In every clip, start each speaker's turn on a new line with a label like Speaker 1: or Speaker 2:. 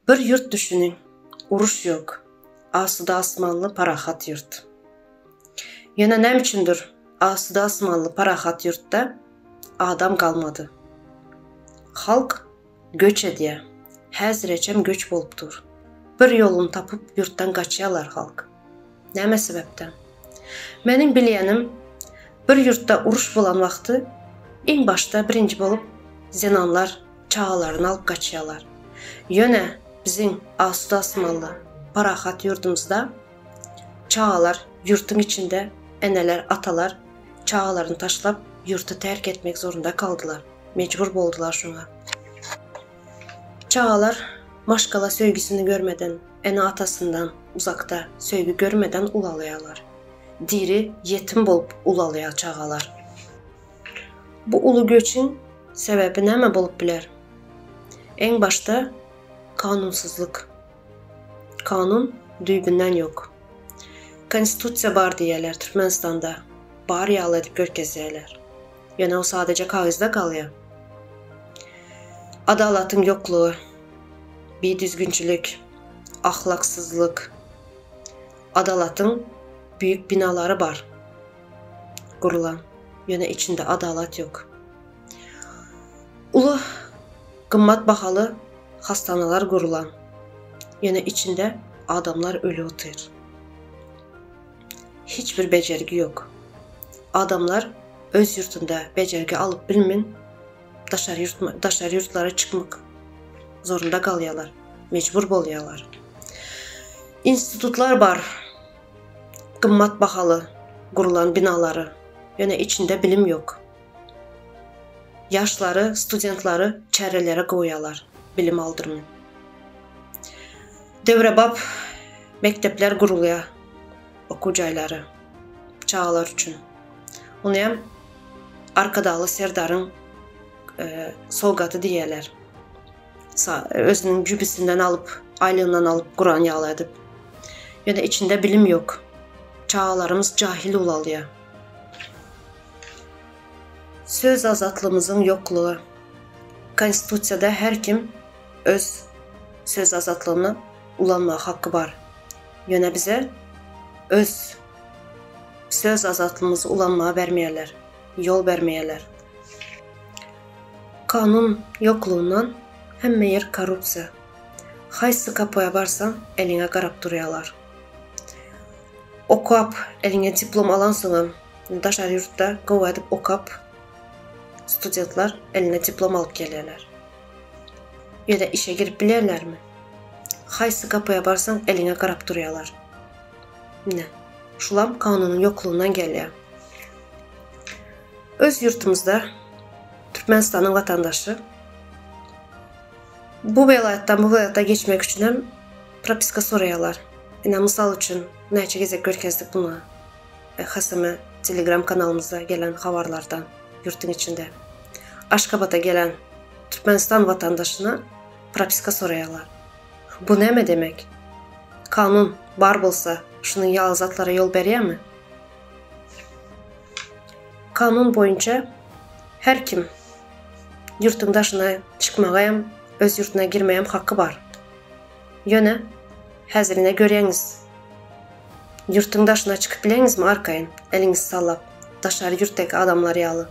Speaker 1: Bir ýurt düşüniň, uruş ýok, asuda-asmanly parahat ýurt. Ýöne näme üçindir, asuda-asmanly parahat ýurtda adam galmady. Halk göç edýär. Häzireçem göç bolup dur. Bir ýoluny tapyp ýurtdan gaçýarlar halk. Näme sebäpden? Meniň bilýänim, bir ýurtda uruş bolan wagty iň başda birinji bolup zenanlar çagalaryny alyp gaçýarlar. Ýöne biziň asuda-asmanly, parahat ýurdumyzda çagalar ýurtuň içinde eneler, atalar çagalaryny taşlap ýurty terk etmek zorunda kaldylar, mejbur boldular şuňa. Çagalar maşgala söýgüsini görmeden, ene-atasyndan uzakda söýgi görmeden ulalýarlar. Diri ýetim bolup ulalýar çagalar. Bu uly göçüň sebäbi näme bolup biler? Eň başda kanunsyzlyk. Kanun düýbünden ýok. Konstitusiýa bar diýýärler Türkmenistanda. Bar ýaly edip görkezýärler. Ýöne o sadaja kagyzda galýar. Adalatyň ýoklugy, bidüzgünçilik, ahlaksyzlyk, adalatyň büyük binalary bar gurulan, ýöne içinde adalat ýok. Uly gymmat bahaly hastanalar gurulan, ýöne içinde adamlar öli otyr. hiç bir bejergi ýok. Adamlar öz ýurtunda bejergi alyp bilmin, daşary ýurt daşary ýurtlara çykmak zorunda galýarlar, mejbur bolýarlar. Institutlar bar. Gymmat bahaly gurlan binalary, ýöne içinde bilim ýok. Ýaşlary, studentlary çärelere goýýarlar, bilim aldyrmyn. Döwrebap mekdepler gurulýar, okuw jaýlary çagalar üçin. Ony hem Arkadagly Serdaryň sowgaty diýýärler. Özüniň jübüsinden alyp, aýlygyndan alyp guran ýaly edip. Ýöne içinde bilim ýok. Çagalarymyz jahil ulalýar. Söz azatlygymyzyň ýoklugy. Konstitusiýada her kim öz söz azatlygyny ulanmaga haky bar. Ýöne bize öz söz azatlygymyzy ulanmaga bermeýärler, ýol bermeýärler. Kanun ýoklugyndan hemme ýer korrupsiýa. Haýsy kapoýa barsaň, eliňe garap durýarlar. Okap, eliňe diplom alansoňam, daşary ýurtda gowy edip okap, studentler eline diplom alyp gelýärler. Ýöne işe girip bilerlermi? Haýsy gapyja barsaň eliňe garap durýarlar. Ine, şulam kanunyň ýoklugyndan gelýär. Öz ýurtumyzda Türkmenistanyň watandaşy bu welaýatdan bu welaýata geçmek üçin hem propiska soraýarlar. Ine, mysal üçin, näçe gezek görkezdik muňa. Hasamy Telegram kanalymyzda gelen habarlardan ýurtun içinde Aşgabada gelen Türkmenistan watandaşyna propiska soraýarlar. Bu näme demek? Kanun bar bolsa şunuň ýaly zatlara ýol berýärmi? Kanun boýunça her kim ýurtuň daşyna çykmaga hem öz ýurtuna girmegem haky bar. Ýöne, häzirine göreňiz. Ýurtuň daşyna çykyp bileňizmi arkaýyn, eliňizi sallap, daşary ýurtdaky adamlar ýaly?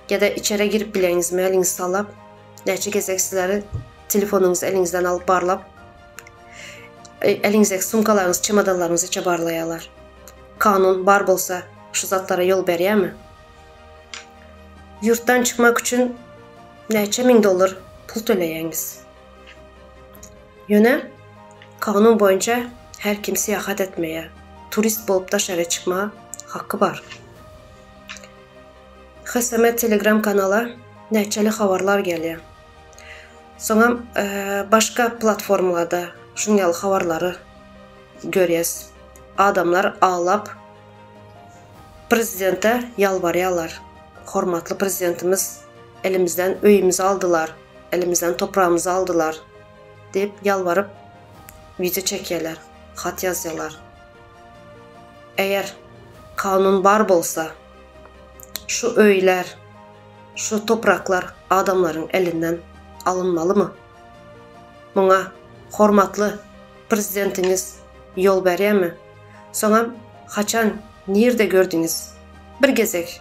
Speaker 1: Ýa-da içere girip bileňizmi, eliňizi sallap, näçe gezek sizleri telefonyňyzy eliňizden alyp barlap, eliňizdäki sumkalaryňyzy, çemodanlaryňyzy içe barlaýarlar? Kanun bar bolsa, şu zatlara ýol berýärmi? Ýurtdan çykmak üçin näçe müň dollar pul töleýäňiz? Ýöne kanun boýunça her kim syýahat etmäge, turist bolup daşaryýa çykmaga haky bar. HSM Telegram kanala näçeli habarlar gelýär. Soňam başga platformalarda şunuň ýaly habarlary görýäs. Adamlar aglap prezidente ýalbarýarlar. Hormatly prezidentimiz elimizden öýümizi aldylar. Elimizden topragymyzy aldylar diýip ýalbaryp wideo çekýärler, hat ýazýarlar. Eger kanun bar bolsa, şu öýler, şu topraklar adamlaryň elinden alynmalymy? Muňa hormatly prezidentiňiz ýol berýärmi? Soňam haçan, nirde gördüňiz? Bir gezek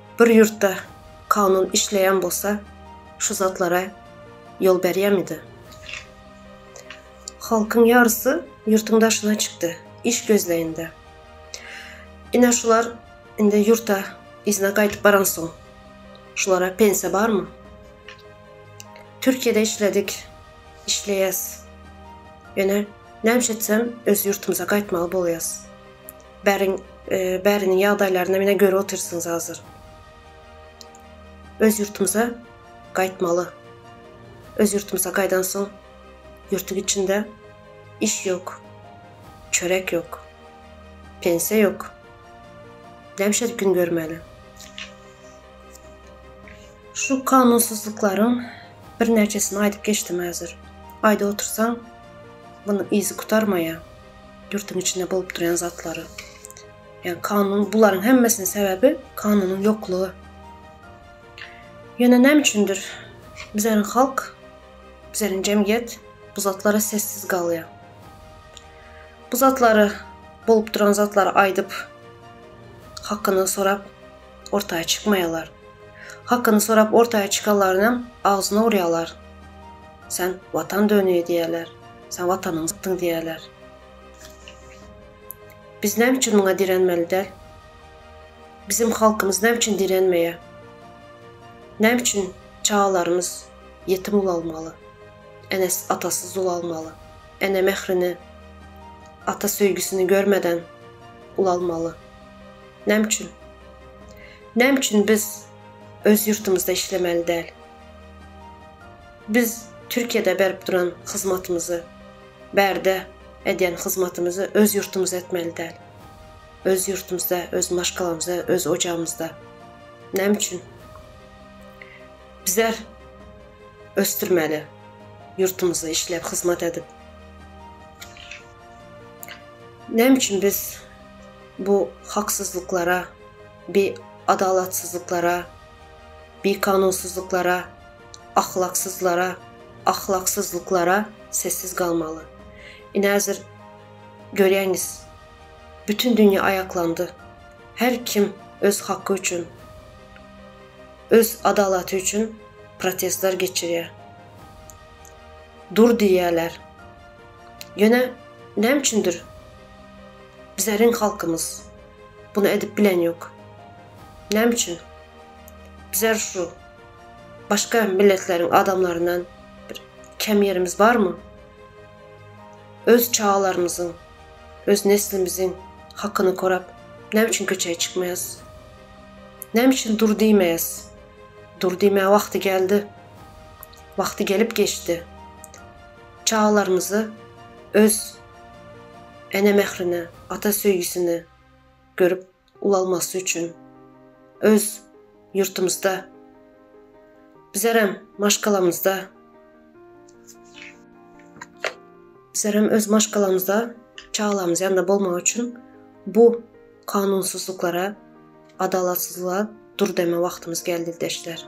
Speaker 1: Bir ýurtda kanun işleýän bolsa, şu zatlara ýol berýärmidi? Halkyň ýarysy ýurtuň daşyna çykdy, iş gözleýinde. Ine şular indi ýurta yzyna gaýdyp baransoň, şulara pensiýa barmy? Türkiýede işledik, işleýäs. Ýöne näme üçin etsem öz ýurtumyza gaýtmaly bolýas. Bäriň bärini ýagdaýlaryna menä görüp otyrsyňyz hazir. Öz ýurtymyza gaýtmaly. Öz ýurtymyza gaýdan soň ýurtuň içinde iş ýok. Çörek ýok. Pensiýa ýok. Näme şeýdip gün görmäli? Şu kanunsyzlyklaryň birnäçesini aýdyp geçdim häzir. Aýdyp otursaň, munuň yzy gutarmaýar. Ýurduň içinde bolup durýan zatlary. Ýa kanun bularyň hemmesiniň sebäbi kanunyň ýoklugy. Ýöne näme üçindir bizleriň halk, bizleriň jemgyýet bu zatlara sessiz galýar. Bu zatlary bolup duran zatlary aýdyp hakyny sorap ortaýa çykmaýarlar. Hakyny sorap ortaýa çykanlarynyň agzyna urýarlar. Sen watan döni diýýärler. Sen watanyňy satdyň diýýärler. Biz näme üçin muňa direnmeli däl? Bizim halkymyz näme üçin direnmeýär? Näme üçin çagalarymyz ýetim ulalmaly? Enesi atasyz ulalmaly. Ene mährini, ata söýgüsini görmeden ulalmaly. Näme üçin? Näme üçin biz öz ýurtumyzda işlemeli däl? Biz Türkiýede berip duran hyzmatymyzy, bärde edýän hyzmatymyzy öz ýurtumyzda etmeli däl? Öz ýurtumyzda, öz maşgalamyzda, öz ojagymyzda. Näme üçin? Bizler ösdürmeli ýurtumyzda işläp hyzmat edip. Näme üçin biz bu haksyzlyklara, bi adalatsyzlyklara, bi kanunsyzlyklara, ahlaksyzlara, ahlaksyzlyklara sessiz galmaly. Ine hazir görýäňiz bütün dünýe aýaklandy. Her kim öz haky üçin, öz adalaty üçin protestler geçirýär. Dur diýýärler. Ýöne näme üçindir Bizeriň halkymyz bunu edip bilen ýok. Näme üçin? Bizer şu başga milletleriň adamlaryndan bir kem ýerimiz barmy? Öz çagalarymyzyň, öz neslimiziň hakyny korap, näme üçin köçä çykmaýas? Näme üçin dur diýmeýäs? Dur diýmä wagty geldi. Wagty gelip geçdi. Çagalarymyzy öz ene mährini, ata söýgüsini görüp ulalmasy üçin öz ýurtumyzda, bizlerem maşgalamyzda, bizlerem öz maşgalamyzda çagalarymyz ýanynda bolmagy üçin bu kanunsyzlyklara, adalatsyzlyga dur deme wagtymyz geldi ildeşler.